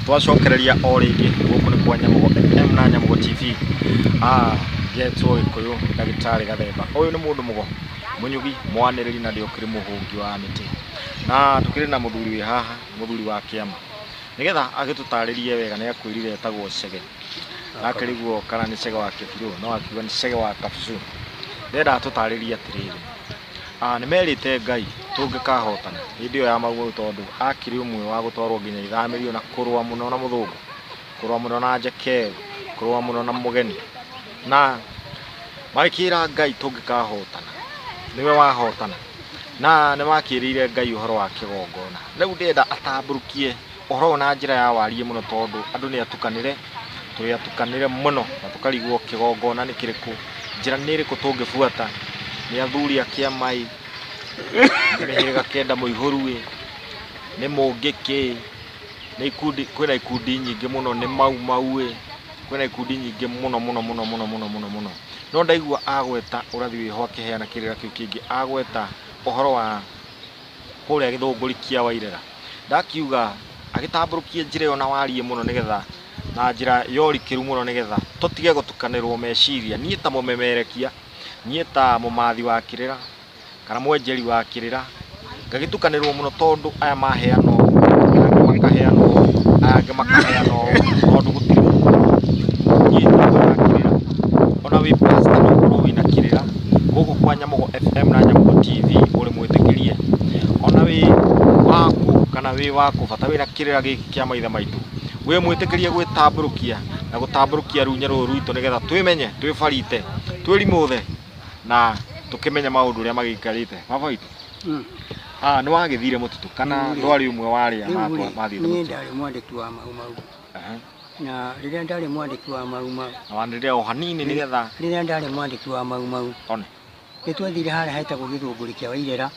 twacokereria o rĩngĩ gũkũ nĩ kwa nyamũgo fm na nyamũgo tv ah njetwo gĩkũyũ ndagĩtarĩ gathemba ũyũ nĩ mũndũ mũgo mũnyugi mwanĩrĩri na ndĩokĩrĩ mũhũngi wa mĩtĩ na tũkĩrĩ na mũthuri wĩ haha mũthuri wa kĩama nĩgetha agĩtũtarĩrie wega nĩ akwĩrire etagwo cege na akĩriguo kana nĩ cege wa kĩbirũ no akiuga nĩ cege wa kabucu nĩenda atũtarĩrie atĩrĩrĩ Ah, nĩ merĩte Ngai tũngĩkahotana hĩndĩ ĩyo ya maumau tondũ akĩrĩ ũmwe wa gũtwarwo nginya ithamĩrio na kũrũa mũno na mũthũngũ kũrũa mũno na njekeru kũrũa mũno na mũgeni na magĩkĩra Ngai tũngĩkahotana nĩwe wahotana na nĩ makĩrĩire Ngai ũhoro wa kĩgongona rĩu ndĩrenda atambũrũkie Ũhoro ũyũ na njĩra ya wariĩ mũno tondũ andũ nĩ atukanĩre, tũrĩ atukanĩre mũno na tũkarigwo kĩgongona nĩ kĩrĩkũ, njĩra nĩ ĩrĩkũ tũngĩbuata, nĩ athuri a kĩama ĩ, nĩ mĩhĩrĩga kenda mũihũru ĩ, nĩ mũngĩ kĩ, nĩ ikundi, kwĩna ikundi nyingĩ mũno, nĩ mau mau ĩ, kwĩna ikundi nyingĩ mũno mũno mũno mũno mũno mũno mũno. No ndaigua agweta ũrathi wĩho akĩheana kĩrĩra kĩu kĩngĩ, agweta ũhoro wa... kũrĩa gĩthũngũri kĩa Wairera. Ndakiuga agĩtambũrũkie njĩra ĩyo na wariĩ mũno nĩgetha na njĩra ya ũrikĩru mũno nĩgetha tũtige gũtukanĩrwo meciria. Niĩ ta mũmemerekia, niĩ ta mũmathi wa kĩrĩra, kana mwenjeri wa kĩrĩra, ngagĩtukanĩrwo mũno tondũ aya maheana ũũ, aya angĩ makaheana ũũ, aya angĩ makaheana ũũ, tondũ gũtirĩ mũndũ ũnyitaga kĩrĩra. Ona wĩ pastor no ũkorwo wĩna kĩrĩra, gũkũ kwa Nyamũgo FM na Nyamũgo TV ũrĩ mwĩtĩkĩrie ona wĩ waku kana wĩ waku bata wĩra kĩrĩra gĩkĩ kĩa maithe maitũ wĩ mwĩtĩkĩrie gwĩtambũrũkia na gũtambũrũkia runye rũrũ rwitũ nĩgetha twĩmenye twĩbarite twĩrimũthe na tũkĩmenye maũndũ ũrĩa magĩikarĩte baba witũ Mm. ah, nĩ wagĩthire mũtitũ kana Nĩ. ndwarĩ ũmwe wa arĩa Rĩu matwa- rĩ, mathiĩte niĩ mũtitũ ndarĩ mwandĩki wa mau mau Aha. Na rĩrĩa ndarĩ mwandĩki wa mau mau. Na wanĩrĩra o hanini nĩ getha. Rĩrĩa ndarĩ mwandĩki wa mau mau. One. Nĩ twathire harĩa hetagwo gĩthũngũri kĩa Wairera.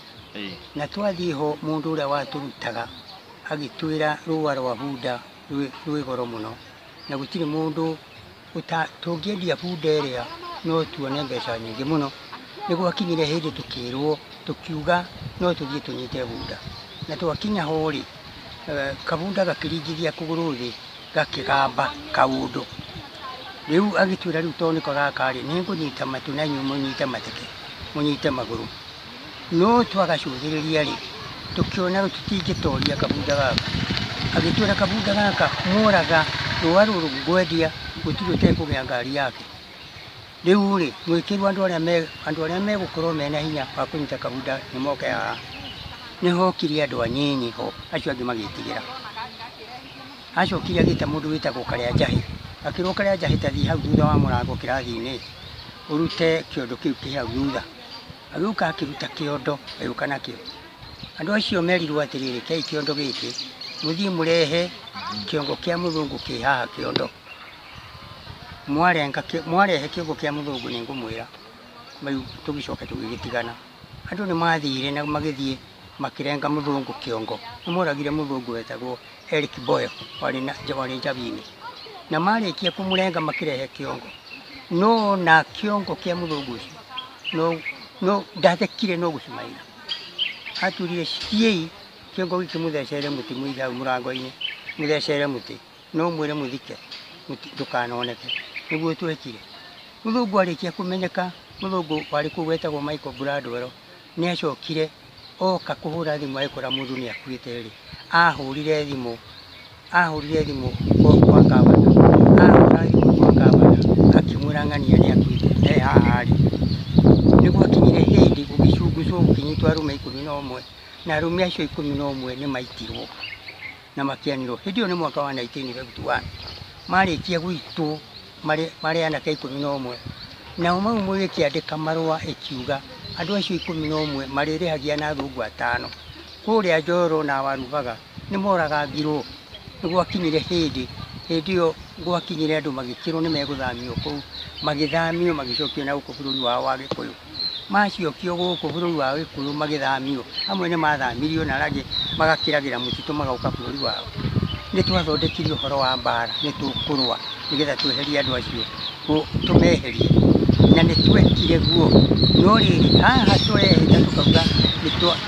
Na twathiĩ ho mũndũ ũrĩa watũrutaga agĩtwĩra rũa rwa bunda rwĩ goro mũno na gũtirĩ mũndũ tũngĩendia bunda ĩrĩa no tuone mbeca nyingĩ mũno nĩ gwakinyire hĩndĩ tũkĩrwo tũkiuga no tũthiĩ tũnyite bunda na twakinya ho rĩ Kabunda gakĩringithia kũgũrũ thĩ gakĩgamba kaũndũ. Rĩu agĩtwĩra rĩu tondũ nĩko gaka-rĩ, nĩngũnyita matũ na inyuĩ mũnyite mateke, mũnyite magũrũ. No twagacũthĩrĩria-rĩ, tũkĩona tũtingĩtoria kabunda gaka. Agĩtwĩra kabunda gaka mworaga, rũa rũrũ ngwendia gũtirĩ ũtekũgĩa ngari yake. Rĩu-rĩ, mwĩkĩrwo andũ arĩa me, andũ arĩa megũkorwo mena hinya wa kũnyita kahinda nĩ moke haha. Nĩ hokire andũ anyinyi ho, acio angĩ magĩtigĩra. Acokire agĩta mũndũ wĩtagwo Karĩanjahĩ, akĩrwo Karĩanjahĩ ta thiĩ hau thutha wa mũrango kĩrathi-inĩ ũrute kĩondo kĩu kĩ hau thutha. Agĩũka akĩruta kĩondo agĩũka nakĩo. Andũ acio merirwo atĩrĩ, rekei kĩondo gĩkĩ mũthiĩ mũrehe kĩongo kĩa mũthũngũ kĩ haha kĩondo. mwarenga kĩ- mwarehe kiugo kĩa mũthũngũ nĩ ngũmwĩra rĩu tũgĩcoke tũgĩgĩtigana andũ nĩ mathire na magĩthiĩ makĩrenga mũthũngũ kĩongo nĩ moragire mũthũngũ wetagwo Eric Boyle warĩ na warĩ njabinĩ na marĩkia kũmũrenga makĩrehe kĩongo no na kĩongo kĩa mũthũngũ ũcio no no ndathekire no gũcumaira aturire ciei kĩongo gĩkĩmũthecere mũtĩ mũigau mũrango-inĩ mũthecere mũtĩ No ũmwĩre mũthike ndũkanoneke. Nĩguo twekire. Mũthũngũ arĩkia kũmenyeka, mũthũngũ warĩ kũu wetagwo Michael Bradwell, nĩ acokire oka kũhũra thimũ agĩkora mũndũ nĩ akuĩte rĩ, ahũrire thimũ, ahũrire thimũ kwa kwa ngavana, ahũra thimũ kwa ngavana akĩmwĩra ng'ania nĩ akuĩte e haha rĩ. Nĩguo akinyire hĩndĩ gũgĩcungũcwo gũkĩnyitwo arũme ikũmi na ũmwe, na arũme acio ikũmi na ũmwe nĩ maitirwo. na makĩanĩrwo hĩndĩ ĩyo nĩ mwaka wa 1951 marĩkia gwitũ marĩ marĩ anake ikũmi na ũmwe nao mau mũgĩkĩandĩka marũa ĩkiuga andũ acio ikũmi na ũmwe marĩrĩhagia na thungu atano kũrĩa njoro na warugaga nĩ moragangirwo nĩ gwakinyire hĩndĩ hĩndĩ ĩyo gwakinyire andũ magĩkĩrwo nĩ megũthamio kũu magĩthamio magĩcokio na gũkũ bũrũri wao wa gĩkũyũ maciokio gũkũ bũrũri wa Gĩkũyũ magĩthamio, amwe nĩ mathamirio na arĩa angĩ magakĩragĩra mũtitũ magoka bũrũri wao. Nĩ twathondekire ũhoro wa mbara, nĩ tũkũrũa nĩgetha tweherie andũ acio, tũmeherie na nĩ twekire guo. No rĩrĩ, haha tũrehĩta tũkauga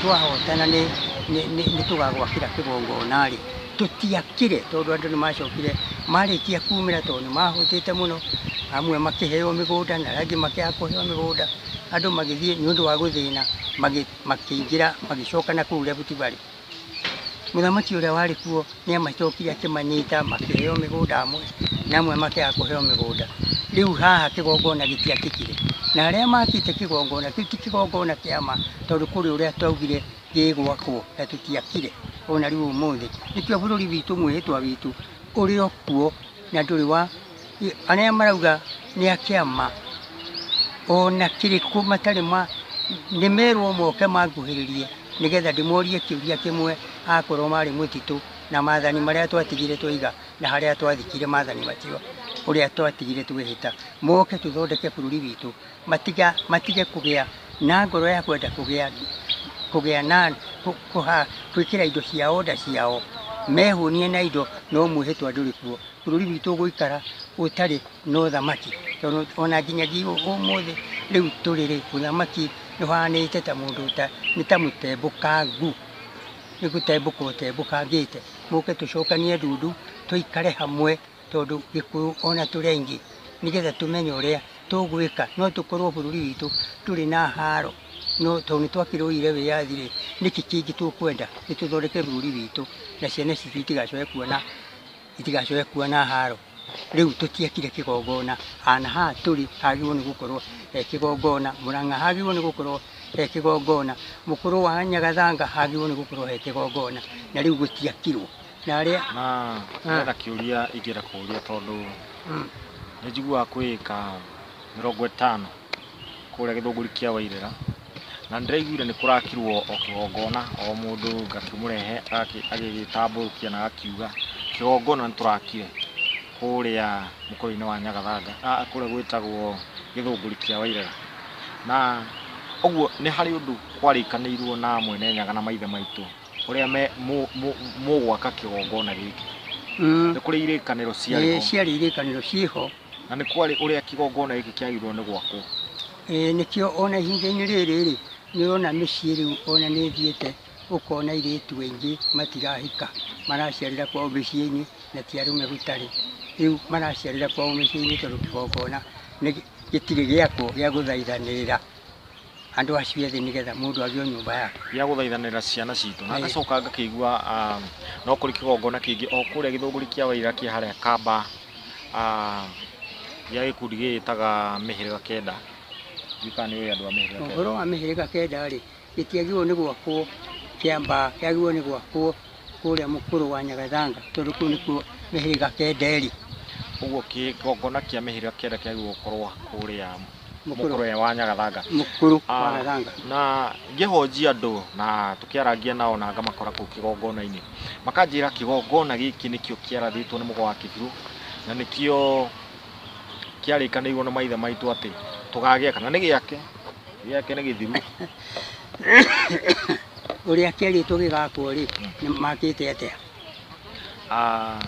twahotana nĩ tũgagwakĩra kĩgongona-rĩ, tũtiakire tondũ andũ nĩ macokire marĩkia kumĩra tondũ nĩ mahũtĩte mũno amwe makĩheo mĩgũnda na arĩa angĩ makĩaga kũheo mĩgũnda andũ magĩthiĩ nĩ ũndũ wa gũthĩna magĩ- makĩingĩra magĩcoka na kũu Rift Valley mũthamaki ũrĩa warĩ kuo nĩ amacokire akĩmanyita makĩheo mĩgũnda amwe na amwe makĩaga kũheo mĩgũnda rĩu haha kĩgongona gĩtiakĩkire na arĩa makĩte kĩgongona kĩu ti kĩgongona kĩa ma tondũ kũrĩ ũrĩa twaugire gĩgwakwo na tũtiakire ona rĩu ũmũthĩ. Nĩkĩo bũrũri witũ mwĩhĩtwa witũ ũrĩ o kuo na ndũrĩ wa arĩa marauga nĩ a kĩama ona kĩrĩkũ matarĩ ma nĩ merwo moke manguhĩrĩrie nĩgetha ndĩmorie kĩũria kĩmwe akorwo marĩ mũtitũ na mathani marĩa twatigire twaiga na harĩa twathikire mathani macio ũrĩa twatigire twĩhĩta moke tũthondeke bũrũri witũ. Matiga, matige kũgĩa na ngoro ya kwenda kũgĩa kũgĩa na kũ- kũha- kwĩkĩra indo ciao nda ciao mehũnie na indo no mwĩhĩtwa ndũrĩ kuo bũrũri witũ ũgũikara ũtarĩ na ũthamaki tondũ ona nginyagia ũ- ũmũthĩ rĩu tũrĩrĩ ũthamaki nĩũhanĩte ta mũndũ ũta- nĩ ta mũtembũkangu nĩ gũtembũka ũtembũkangĩte mũke tũcokanie ndundu tũikare hamwe tondũ Gĩkũyũ ona tũrĩ aingĩ, nĩgetha tũmenye ũrĩa tũgwĩka, no tũkorwo bũrũri witũ ndũrĩ na haro, no tondũ nĩ twakĩrũĩire wĩyathi rĩ, nĩkĩ kĩngĩ tũkwenda, nĩ tũthondeke bũrũri witũ na ciana citũ itigacoke kuona, itigacoke kuona haro. Rĩu tũtiakire kĩgongona, na haha tũrĩ hagĩrĩirwo nĩ gũkorwo he kĩgongona, Mũrang'a hagĩrĩirwo nĩ gũkorwo he kĩgongona, Mũkũrwe wa Nyagathanga hagĩrĩirwo nĩ gũkorwo he kĩgongona, na rĩu gũtiakirwo. Narĩa. Na hena kĩũria ingĩenda kũũria tondũ nĩ njiguaga kwĩ ĩka mĩrongo ĩtano kũrĩa gĩthũngũri kĩa Wairĩra, na nĩ ndĩraiguire nĩ kũrakirwo o kĩgongona o mũndũ ngakĩmũrehe agĩgĩtambũrũkia na agakiuga kĩgongona nĩ tũrakire kũrĩa mũkũyũ-inĩ wa Nyagathanga, kũrĩa gwĩtagwo gĩthũngũri kĩa Wairĩra. Na ũguo nĩ harĩ ũndũ kwarĩkanĩirwo na mwene Nyaga na maithe maitũ ũrĩa me- mũ- mũ- mũgwaka kĩgongona gĩkĩ Mm. nĩ kũrĩ irĩkanĩro Ĩĩ, ciarĩ ciarĩ irĩkanĩro ciĩho na nĩ kwarĩ ũrĩa kĩgongona gĩkĩ kĩagĩrĩirwo nĩ gwakwo Ĩĩ, nĩkĩo ona ihinda-inĩ rĩrĩ rĩ nĩũrona mĩciĩ rĩu ona nĩ ĩthiĩte ũkona irĩtu aingĩ matirahika maraciarĩra kwao mĩciĩ-inĩ na ti arũme gũtarĩ rĩu maraciarĩra kwao mĩciĩ-inĩ tondũ kĩgongona nĩ- gĩtirĩ gĩakwo gĩa gũthaithanĩrĩra andũ acio ethĩ nĩgetha mũndũ agĩe nyũmba yake. Gĩa gũthaithanĩra ciana citũ. Na ngacoka ngakĩigua um, no kũrĩ kĩgongona kĩngĩ o kũrĩa gĩthũngũri kĩa waira kĩa harĩa kamba um, gĩa gĩkundi gĩgĩtaga mĩhĩrĩga kenda gĩkaa nĩ ũyũ andũ a mĩhĩrĩga kenda ũhoro wa mĩhĩrĩga kenda-rĩ gĩtiagĩrĩirwo nĩ gwakwo kĩamba kĩagĩrĩirwo nĩ gwakwo kũrĩa mũkũrũ wa Nyagathanga tondũ kũu nĩkuo mĩhĩrĩga kenda ĩrĩ. Ũguo kĩgongona kĩa mĩhĩrĩga kenda kĩagĩrĩirwo gũkorwo kũrĩa mũkũrũ wa Nyagathanga. Mũkũrũ wa ah, Nyagathanga. Na ngĩhonjia andũ na tũkĩarangia nao na ngamakora kũu kĩgongona-inĩ, makanjĩra kĩgongona gĩkĩ nĩkĩo kĩarathĩtwo nĩ mũgo wa kĩbirũ na nĩkĩo kĩarĩkanĩirwo na maithe maitũ atĩ tũgagĩaka na nĩ gĩake gĩake nĩ gĩthiru ũrĩa kĩarĩtwo gĩgakwo rĩ nĩ makĩte atĩa Ah,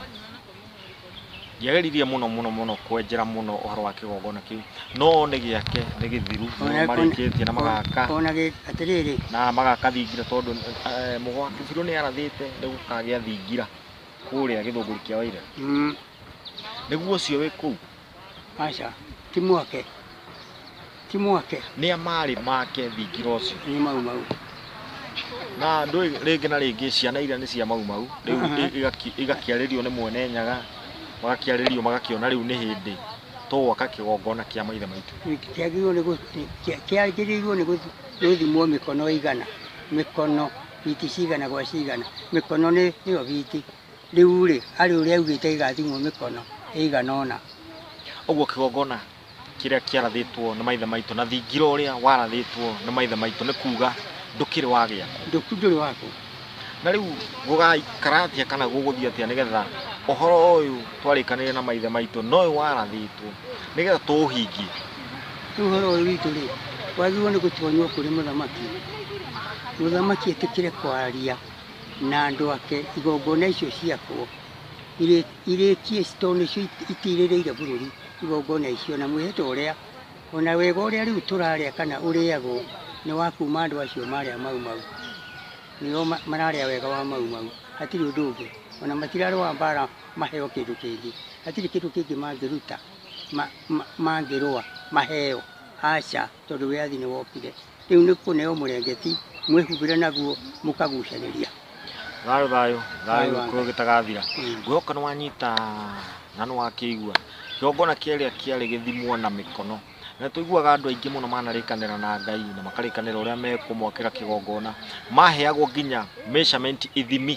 ndiageririe mũno mũno mũno kwenjera mũno ũhoro wa kĩgongona kĩu no nĩ gĩake nĩ gĩthiru Ona- marĩkĩtie na magaka ona gĩ- atĩrĩrĩ na magaka thingira tondũ eh, mũgwati birũ nĩ arathĩte nĩ gũkagĩa thingira kũrĩa gĩthũngũri kĩa waira Mm, nĩguo ũcio wĩ kũu aca ti mwake ti mwake nĩa marĩ make thingira ũcio nĩ mau mau na ndũĩ rĩngĩ na rĩngĩ ciana iria nĩ cia mau mau rĩu Mhm. i- igaki- igakĩarĩrio nĩ mwene nyaga magakĩarĩrio magakĩona rĩu nĩ hĩndĩ tũgwaka kĩgongona kĩa maithe maitũ kĩagĩrĩirwo nĩ gũ- kĩa- kĩagĩrĩirwo nĩ gũthi- gũthimwo mĩkono ĩigana mĩkono biti cigana gwa cigana mĩkono nĩ ĩyo biti rĩu rĩ arĩ ũrĩa augĩte igathimwo mĩkono ĩigana ũna ũguo kĩgongona kĩrĩa kĩarathĩtwo nĩ maithe maitũ na thingira ũrĩa warathĩtwo nĩ maithe maitũ nĩ kuga ndũkĩrĩ wa gĩakwa ndũku ndũrĩ wakwa na rĩu gũgaikara atĩa kana gũgũthiĩ atĩa nĩgetha ũhoro ũyũ twarĩkanĩire na maithe maitũ noyũ warathĩtwo nĩgetha tũũhingie Ũhoro ũyũ witũ rĩ, wagĩrĩirwo nĩ gũtonywo kũrĩ mũthamaki, mũthamaki etĩkĩre kwaria na andũ ake igongona icio ciakwo irĩ- irĩkie ci- tondũ nĩcio it- itirĩrĩire bũrũri igongona icio, na mwĩhĩtwa ũrĩa ona wega ũrĩa rĩu tũrarĩa kana ũrĩagwo nĩ wa kuma andũ acio marĩa mau mau, nĩo ma- mararĩa wega wa mau mau, hatirĩ ũndũ ũngĩ, ona matirarũa mbara maheo kĩndũ kĩngĩ, hatirĩ kĩndũ kĩngĩ mangĩruta. mangĩrũa maheo, aca, tondũ wĩyathi nĩ wokire. Rĩu nĩ kũneo mũrengeti, mwĩhumbĩre naguo mũkagucanĩria. Thayũ thayũ thayũ gĩkũyũ gĩtagathira guoka nĩ wanyita na nĩ wakĩigua kĩgongona kĩrĩa kĩarĩ gĩthimwo na mĩkono na tũiguaga andũ aingĩ mũno manarĩkanĩra na Ngai na makarĩkanĩra ũrĩa mekũmwakĩra kĩgongona maheagwo nginya measurement ithimi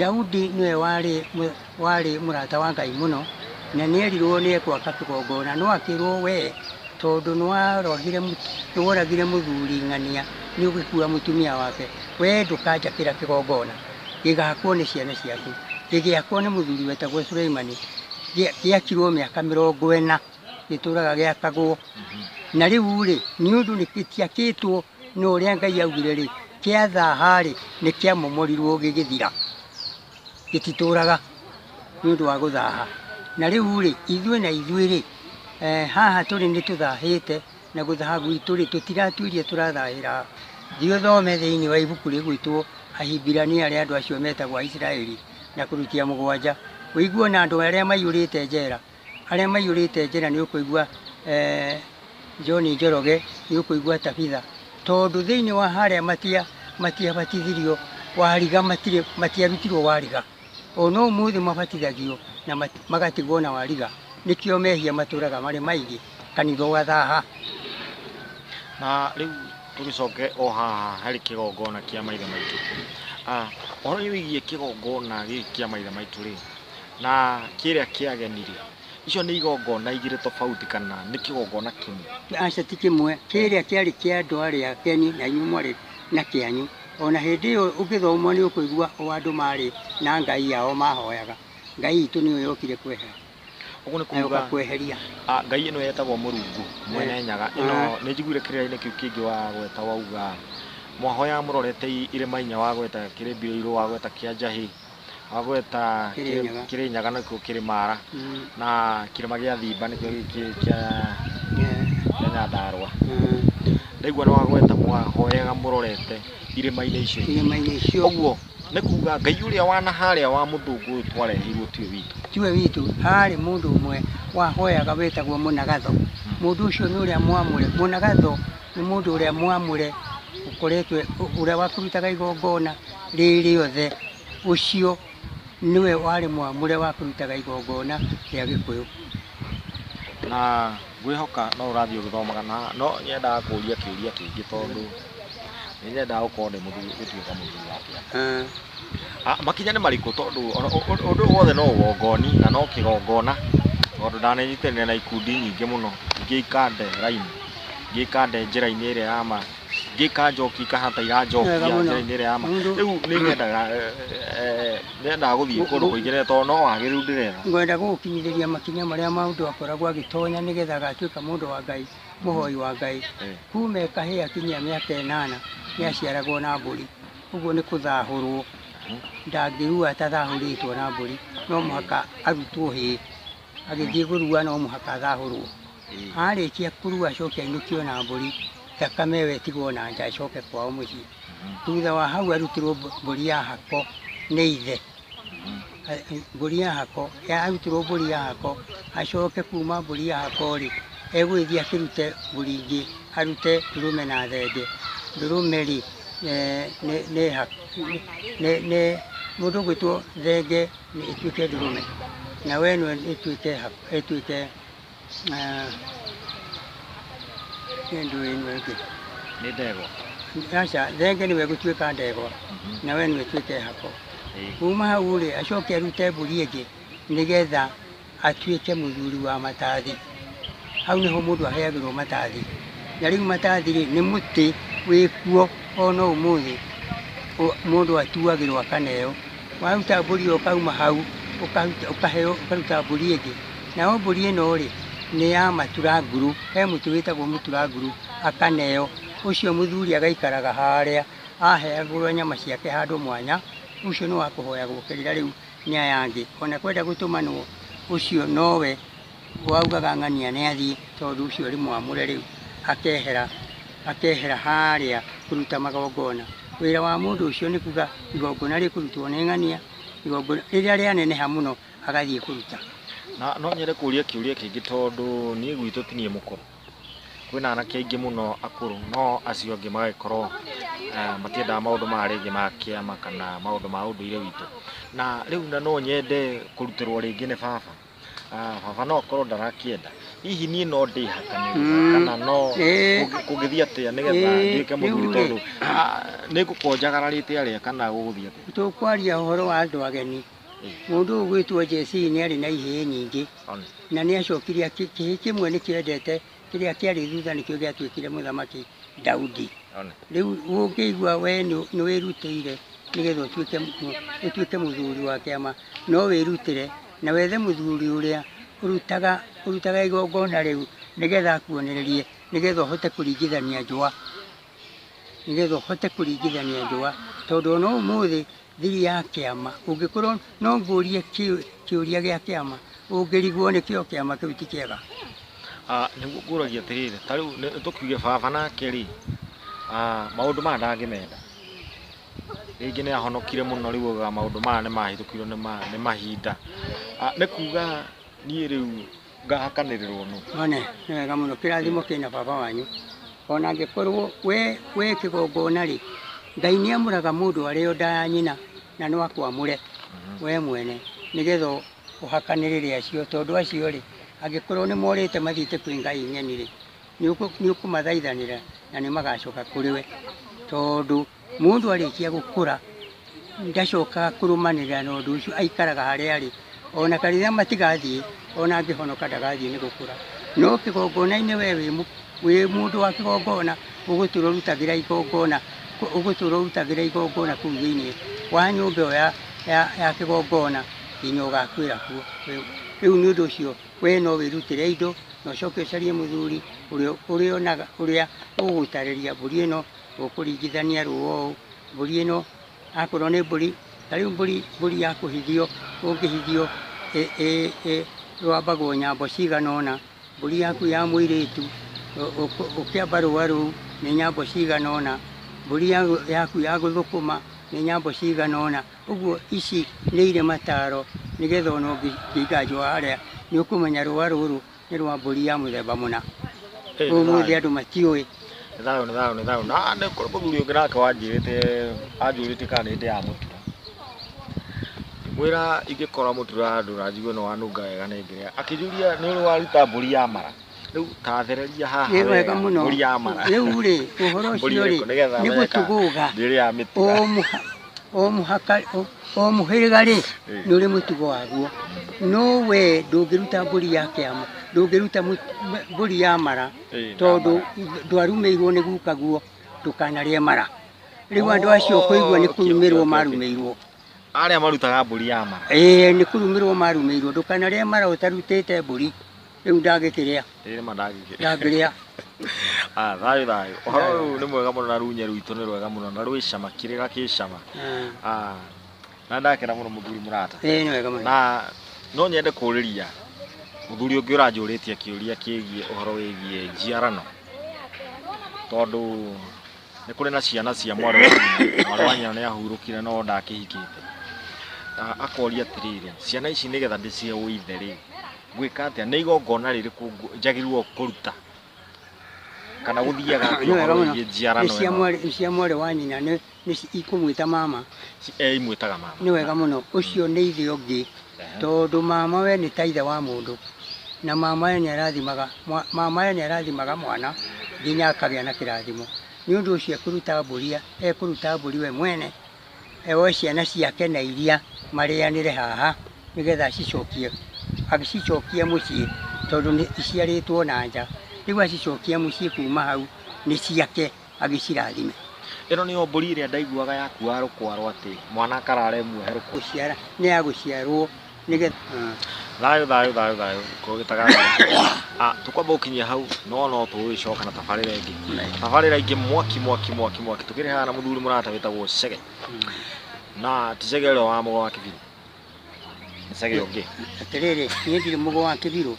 Daudi nĩwe warĩ mũ- warĩ mũrata wa Ngai mũno na nĩ erirwo nĩ ekwaka kĩgongona no akĩrwo we tondũ nĩwarogire mũ- nĩworagire mũthuri ng'ania nĩ ũgĩkua mũtumia wake we ndũkanjakĩra kĩgongona gĩgakwo nĩ ciana ciaku gĩgĩakwo nĩ mũthuri wetagwo Suleimani gĩa- gĩakirwo mĩaka mĩrongo ĩna gĩtũraga gĩakagwo na rĩu rĩ nĩ ũndũ nĩ gĩtiakĩtwo nĩ ũrĩa Ngai augire rĩ, kĩa thaha-rĩ, nĩ kĩamomorirwo gĩgĩthira, gĩtitũraga nĩ ũndũ wa gũthaha. Na rĩu-rĩ, ithuĩ na ithuĩ-rĩ, eh, haha tũrĩ nĩ tũthahĩte na gũthaha gwitũ-rĩ, tũtiratuĩria tũrathahĩra ha. Thiĩ ũthome thĩinĩ wa ibuku rĩgwĩtwo Ahibirania rĩa andũ acio metagwo Aisiraeli na kũrutia mũgwanja, ũigue o na andũ arĩa maiyũrĩte njera. Arĩa maiyũrĩte njĩra nĩ ũkũigua eh, John Njoroge, nĩ ũkũigua Tabitha, tondũ thĩinĩ wa harĩa matia matiabatithirio wariga matirĩ matiarutirwo wariga o no ũmũthĩ mabatithagio na mat- magatigwo na wariga nĩkĩo mehia matũraga marĩ maingĩ kanitha ũgathaha na rĩu tũgĩcoke o haha harĩ kĩgongona kĩa maithe maitũ Ah, ũhoro wĩgiĩ kĩgongona gĩkĩ kĩa maithe maitũ rĩ Na kĩrĩa kĩageni-rĩ, icio nĩ igongona igĩrĩ tofauti kana nĩ kĩgongona kĩmwe? Aca ti kĩmwe, kĩrĩa kĩarĩ kĩa andũ arĩa ageni na inyuĩ mwarĩ na kĩanyu. O na hĩndĩ ĩyo ũngĩthoma nĩ ũkũigua o andũ marĩ na ngai yao mahoyaga, Ngai itũ nĩyo yokire kwehera, Ũguo nĩ na yũka kuuga kweheria. a, ngai ĩno yetagwo Mũrungu Mwene Nyaga. Ĩno Ah. nĩ njiguire kĩrĩra-inĩ kĩu kĩngĩ wagweta wauga, mwahoyaga mũrorete i- irĩma inya wagweta kĩrĩmbirĩirũ, wagweta kĩa njahĩ. Wagweta Kĩrĩnyaga. Kĩrĩnyaga nĩkuo kĩrĩ Mara Mm. na kĩrĩma gĩa Thimba nĩkĩo gĩkĩ kĩa Yeah. kĩa Nyandarũa. Mm. Ndaigua nĩ wagweta mwahoyaga mũrorete irĩma-inĩ icio. Irĩma-inĩ icio Ũguo nĩ kuga Ngai ũrĩa wa na harĩa wa mũthũngũ ũyũ twareheirwo tiwe witũ. tiwe witũ harĩ mũndũ ũmwe wahoyaga wetagwo mũnagatho mũndũ ũcio nĩ ũrĩa mwamũre mũnagatho nĩ mũndũ ũrĩa mwamũre ũkoretwe ũrĩa wakũrutaga igongona rĩrĩ othe, ũcio nĩwe warĩ mwamũre wa kũrutaga igongona rĩa Gĩkũyũ. Na ngwĩhoka no ũrathiĩ ũgĩthomaga na no nyendaga kũria kĩũria kĩngĩ tondũ nĩ nyendaga gũkorwo ndĩ mũthuri gũtuĩka mũthuri wa kĩama. Ah, makinya nĩ marĩkũ tondũ ũndũ wothe no ũgongoni na no kĩgongona tondũ ndanenyitanĩra na ikundi nyingĩ mũno ingĩ ikande raini, ingĩ ikande njĩra-inĩ ĩrĩa ya ma. gä ka njoki kahata iranjokia Wega mũno. njĩra-inĩ ĩrĩa ya ma Mũndũ- rĩu nĩ nyendaga eh, eh, nyendaga gũthiĩ Gũ- kũndũ gũ- kũingĩ rĩrĩa tondũ no wagĩrĩru ndĩrenda ngwenda gũgũkinyithĩria makinya marĩa mũndũ akoragwo agĩtonya nĩgetha agatuĩka mũndũ wa ngai mũhoi wa ngai Eh. kuma kahĩĩ akinyia mĩaka ĩnana nĩ aciaragwo na mbũri ũguo nĩ kũthahũrwo ndangĩrua atathahũrĩtwo na mbũri no mũhaka arutwo hĩĩ agĩthiĩ kũrua no mũhaka athahũrwo arĩkia kũrua acoke ainũkio na mbũri thakame ĩyo ĩtigwo na nja acoke kwao mũciĩ thutha wa hau arutirwo mbũ- mbũri ya hako nĩ ithe A- mbũri ya hako ya- arutirwo mbũri ya hako acoke kuma mbũri ya hako rĩ egũgĩthiĩ akĩrute mbũri ingĩ arute ndũrũme na thenge ndũrũme rĩ eh, nĩ- nĩ ha- nĩ- nĩ- mũndũ ũgwĩtwo thenge nĩ ĩtuĩke ndũrũme na we ĩno ĩtuĩke ha- ĩtuĩke Eh. Niĩ ndũĩ nĩ wengĩ. Nĩ ndegwa. Aca, thenge nĩwe gũtuĩka ndegwa na we nĩwe tuĩke hako. Ĩĩ. Kuma hau rĩ, acoke arute mbũri ĩngĩ nĩgetha atuĩke mũthuri wa matathi. Hau nĩho mũndũ aheagĩrwo matathi. Na rĩu matathi rĩ, nĩ mũtĩ wĩkuo ona ũmũthĩ ũ- mũndũ atuagĩrwo akaneo. Waruta mbũri ĩyo ũkauma hau ũkaruta mbũri ĩngĩ, nayo mbũri ĩno rĩ nĩ ya matura nguru, he mũtĩ wĩtagwo mũtura nguru, akaneo, ũcio mũthuri agaikaraga harĩa aheagĩrwo nyama ciake handũ mwanya, ũcio nĩ wa kũhoyagwo kĩrĩra rĩu nĩ aya angĩ, ona kwenda gũtũmanwo ũcio nowe. Waugaga ng'ania nĩ athiĩ tondũ ũcio ũrĩ mwamũre rĩu akehera, akehera harĩa kũruta magongona. Wĩra wa mũndũ ũcio nĩ kuga igongona rĩkũrutwo nĩ ng'ania, igongona rĩrĩa rĩaneneha mũno agathiĩ kũruta. Na no nyende kũria kĩũria kĩngĩ tondũ niĩ gwitũ ti niĩ mũkũrũ. Kwĩna anake aingĩ mũno akũrũ no acio angĩ magagĩkorwo matiendaga maũndũ maya rĩngĩ ma kĩama kana maũndũ ma ũndũire witũ. Na rĩu na no nyende kũrutĩrwo rĩngĩ nĩ baba. Ah, baba no akorwo ndarakĩenda hihi niĩ no ndĩhakanĩria Mm. kana no Eh. kũngĩ- kũngĩthiĩ atĩa nĩgetha Eh, nduĩke mũthuri rĩu-rĩ. tondũ ah, nĩngũkonjagara rĩte arĩa kana gũgũthiĩ atĩa tũkwaria ũhoro wa andũ ageni Eh. mũndũ ũyũ gwĩtwo Jesii nĩ arĩ na ihĩĩ nyingĩ Honest. na nĩ acokire akĩ- kĩhĩ kĩmwe nĩ kĩendete kĩrĩa kĩarĩ thutha nĩkĩo gĩatuĩkire mũthamaki Daudi. Ona. Rĩu ũngĩigua we nĩ- nĩ wĩrutĩire nĩgetha ũtuĩke mu- ũtuĩke mũthuri wa kĩama no wĩrutĩre na wethe mũthuri ũrĩa ũrutaga ũrutaga igongona rĩu nĩgetha akuonererie nĩgetha ũhote kũringithania njũa nĩgetha ũhote kũringithania njũa tondũ ona ũmũthĩ thiri ya kĩama ũngĩkorwo no ngũrie kĩ- kĩũria gĩa kĩama ũngĩrigwo nĩkĩo kĩama kĩu ti kĩega Ah, nĩguo ngũragia atĩrĩrĩ ta rĩu nĩ- tũkiuge baba nake rĩ ah, maũndũ maya ndangĩmenda rĩngĩ nĩ ahonokire mũno rĩu oigaga maũndũ maya nĩ mahĩtũkirwo nĩ ma- nĩ mahinda Ah, nĩ kuga niĩ rĩu ngahakanĩrĩrwo nũ? One, nĩ wega mũno, kĩrathimo kĩna baba wanyu. Ona angĩkorwo we wĩ kĩgongona-rĩ, Ngai nĩamũraga mũndũ arĩ o nda ya nyina, na no akwamũre we mwene, nĩgetha ũhakanĩrĩre acio, tondũ acio-rĩ, angĩkorwo nĩmorĩte mathiĩte kwĩ ngai ng'eni-rĩ, nĩũkũmathaithanĩra na nĩmagacoka kũrĩ we, tondũ Mũndũ arĩkia gũkũra ndacokaga kũrũmanĩrĩra na ũndũ ũcio, aikaraga harĩa arĩ. Ona kanitha matigathiĩ, ona angĩhonoka ndagathiĩ nĩ gũkũra. No kĩgongona-inĩ we wĩ mũ- wĩ mũndũ wa kĩgongona, ũgũtũra ũrutagĩra igongona, kũ- ũgũtũra ũrutagĩra igongona kũu thĩinĩ wa nyũmba ĩyo ya- ya- ya kĩgongona nginya ũgakuĩra kuo. Rĩu- Rĩu nĩ ũndũ ũcio we no wĩrutĩre indo, na ũcoke ũcarie mũthuri ũrĩa ũrĩonaga, ũrĩa ũgũtarĩria mbũri ĩno Ũkũringithania rũũa ũũ, mbũri ĩno akorwo nĩ mbũri, ta rĩu mbũri mbũri ya kũhithio ũngĩhithio rũambagwo nyambo cigana ũna, mbũri yaku ya mũirĩtu ũkĩamba rũũa rũu nĩ nyambo cigana ũna, mbũri yaku ya gũthũkũma nĩ nyambo cigana ũna. Ũguo ici nĩ irĩ mataaro nĩgetha ona ũngĩiga njũa harĩa nĩ ũkũmenya rũũa rũrũ Nĩ rwa mbũri ya mũthemba mũna. Ũmũthĩ andũ matiũĩ. Nĩ thayũ nĩ thayũ nĩ thayũ. Na nĩ kũrĩ mũthuri ũngĩ nake wanjĩrĩte anjũrĩtie kana nĩ ndĩaga mũtura. Ngĩmwĩra ingĩkora mũtura handũ na njigue nĩ wanunga wega nĩ ngĩrĩa. Akĩnjũria nĩ ũrĩ waruta mbũri ya mara. Rĩu ta thereria haha Nĩ wega wega mũno. mbũri ya mara. Rĩu rĩ, ũhoro Mbũri ũcio rĩ, ĩrĩkũ nĩgetha nĩ weka gũtũgũga. ndĩrĩaga mĩtura. Ũmũ- o mũhaka o- o mũhĩrĩga rĩ nĩ ũrĩ mũtugo waguo no we ndũngĩruta mbũri ya kĩama ndũngĩruta mũ- m- mbũri ya mara Ĩĩ, tondũ ndwarumĩirwo nĩ guka guo ndũkanarĩe mara rĩu andũ acio kũigua nĩ kũrumĩrwo marumĩirwo arĩa marutaga mbũri ya mara ĩĩ nĩ kũrumĩrwo marumĩirwo ndũkanarĩe mara ũtarutĩte mbũri Rĩu ndagĩkĩrĩa. Ĩĩ nĩma ndagĩkĩrĩa. Ndangĩrĩa. Ah, thayũ thayũ. Ũhoro ũyũ nĩ mwega mũno na runyĩ rwitũ nĩ rwega mũno na rwĩ cama kĩrĩra kĩ cama. Ah, na ndakena mũno mũthuri mũrata. Ĩĩ nĩ wega mũno. Na no nyende kũrĩria mũthuri ũngĩ ũranjũrĩtie kĩũria kĩgiĩ ũhoro wĩgiĩ njiarano tondũ nĩ kũrĩ na ciana cia mwarĩ wa nyina mwarĩ wa nyina nĩ ahurũkire no ndakĩhikĩte Ah, akoria atĩrĩrĩ ciana ici nĩgetha ndĩcihe ũithe rĩ ngwĩka atĩa nĩ igongona rĩrĩkũ ngũ- njagĩrĩirwo kũruta kana gũthiaga Nĩ wega mũno. Nĩ cia njiarano mwarĩ- nĩ cia mwarĩ wa nyina nĩ nĩ ci- ikũmwĩta mama imwĩtaga mama nĩ wega mũno ũcio nĩ ithe ũngĩ Ehe. tondũ mama we nĩ ta ithe wa mũndũ na mama we nĩ arathimaga mwa- mama we nĩ arathimaga mwana nginya akagĩa na kĩrathimo nĩ ũndũ ũcio ekũruta mbũria ekũruta mbũri we mwene oe ciana ciake na iria marĩanĩre haha nĩgetha acicokie, agĩcicokie mũciĩ tondũ nĩ iciarĩtwo na nja. Rĩu acicokie mũciĩ kuma hau nĩ ciake agĩcirathime. Ĩno nĩyo mbũri ĩrĩa ndaiguaga yakuaga rũkwarwo atĩ mwana akarara ĩmuohe rũkwarwo. Gũciara, nĩ ya gũciarwo. nĩgetha thayå thayå thayå thayå kå gä taga tå kwamba gå kinyia hau no no tå gä coka na tabarä ra ä ngä tabarä ra ingä mwaki mwaki mwaki mwaki tå kä rä haga na må thuri må rata wä tagwo cege na ti cege å rä a wa må go wa kä biro nä cege å ngä atĩrĩrĩ niĩ ndirĩ mũgũ wa kĩbirũ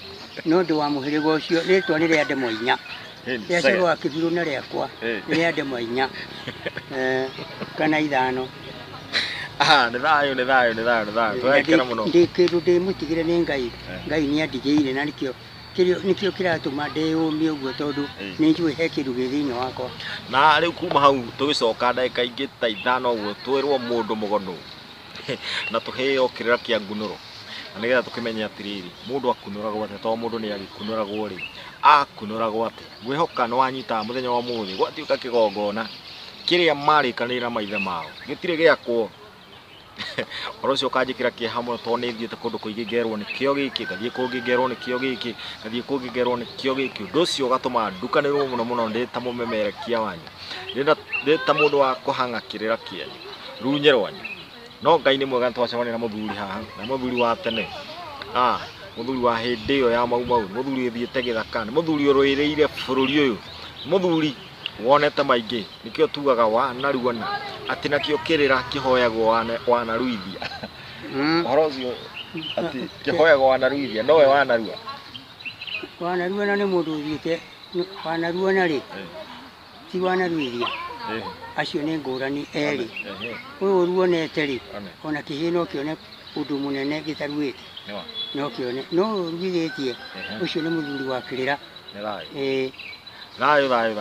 no ndĩ wa mũhĩrĩga ũcio rĩtwa nĩ rĩa ndemwa inya Heni, rĩa second. coro wa kĩbirũ na rĩakwa Eh. nĩ rĩa ndemwa inya Eh, kana ithano Aha, nĩ thayũ nĩ thayũ nĩ thayũ nĩ thayũ Na tũrekera ndĩ- mũno ndĩ kĩndũ ndĩmũtigĩre nĩ ngai Eh. ngai nĩ andigĩire na nĩkĩo kĩrĩo- nĩkĩo kĩratũma ndĩyũmie ũguo tondũ Eh. nĩ njũĩ he kĩndũ gĩ thĩinĩ wakwa na rĩu kuma hau tũgĩcoka ndagĩka ingĩ ta ithano ũguo twĩrwo mũndũ mũgonu na tũheo kĩrĩra kĩa ngunũro na nĩgetha tũkĩmenye atĩrĩrĩ mũndũ akunũragwo atĩa tondũ mũndũ nĩ agĩkunũragwo rĩ akunũragwo atĩa ngwĩhoka nĩ wanyita mũthenya wa ũmũthĩ gwatuĩka kĩgongona kĩrĩa marĩkanĩire na maithe mao gĩtirĩ gĩakwo ũhoro ũcio ũkanjĩkĩra kĩeha mũno tondũ nĩ thiĩte kũndũ kũingĩ ngerwo nĩkĩo gĩkĩ ngathiĩ kũngĩ ngerwo nĩkĩo gĩkĩ ngathiĩ kũngĩ ngerwo nĩkĩo gĩkĩ ũndũ ũcio ũgatũma ndukanĩrwo mũno mũno ndĩ ta mũmemerekia wanyu ndĩ ta mũndũ wa kũhang'a kĩrĩra kĩanyu runye rwanyu no ngai nĩ mwega twacemania na mũthuri haha na mũthuri wa tene ah mũthuri wa hĩndĩ ĩyo ya mau mau mũthuri ũthiĩte gĩthaka nĩ mũthuri ũrũĩrĩire bũrũri ũyũ mũthuri wonete maingĩ nĩkĩo tugaga wanaruana atĩ nakĩo kĩrĩra kĩhoyagwo wana- wanaruithia Mm. ũhoro ũcio atĩ kĩhoyagwo wanaruithia nowe wanarua Wanaruana nĩ mũndũ ũthiĩte wanaruana rĩ ti wanaruithia Eh, acio nĩ ngũrani erĩ ehe, ũyũ ũruonete rĩ Amen. ona kĩhĩe no kĩone ũndũ mũnene gĩtaruĩte nĩ wa, no kĩone no ũruithĩtie Ehe. ũcio nĩ mũthuri wa kĩrĩra nĩ thayũ. Eh, Thayũ, thayũ, thayũ.